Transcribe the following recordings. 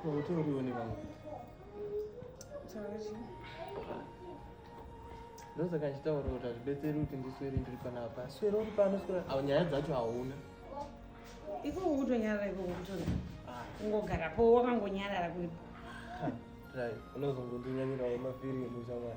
Utorione vangu. Sorry. Ndoza kachitaura kuti hazvibetseri kuti ndiswere ndiri panapa. Swera uri pano swera. Awu nyaya dzacho hauna. Iko ukutonyarara iko ukutona. Ah. Ungogara po wakangonyarara kuri. Right. Unozongondinyanira wema feeling mushawara.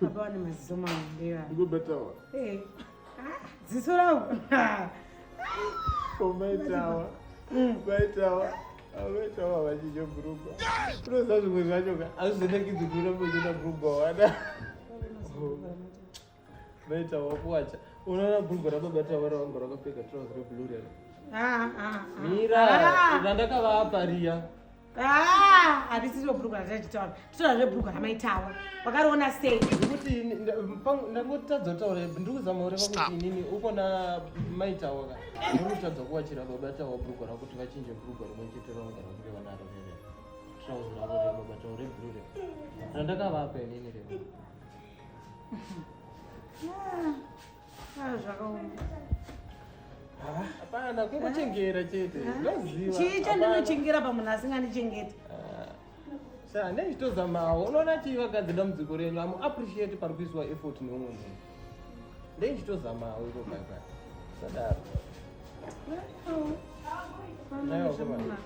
Baba wane maziso maondewa. Ndiko betawa. Eh. Ah, ziso rawo. Ko maitawa. Mm. Maitawa. Maitawa vachije brugwa. Unoza zvimwe zvacho ka azvina kidzikura kuchita brugwa wana. Maitawa kuwacha. Unaona brugwa rababa tawa rawangu rakapfeka trouser reblue rero. Ah ah. ah. Mira, ah. ndakavapa riya. Ah, arisiro bhuruka ratichitaura titora zvebhuruka ramaitawa wakariona sei ndikuti ndangotadza kutaura ndiri kuzama kureva kuti inini uko na maitawa ka ndiri kutadza kuwachira baba tawa bhuruka rako kuti vachinje bhuruka rimwe chete ravagara kureva naro rere trauzi ravo reva baba tawa rebhuru re randakavapa inini reva ah. Ah, zvakaoma. Hapana, kungochengera chete. Ah. Ndoziva. Chii chandinochengera pamunhu asingandichengeti? Ah. Sha, ndezvitozamawo. Unoona chii vakadzi dambudziko renyu. Amu appreciate pari kuiswa effort neumwe munhu. Ndezvitozamawo iko bye bye. Sadaro. Nayo kuma.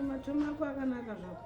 Matomo ako akanaka zvako.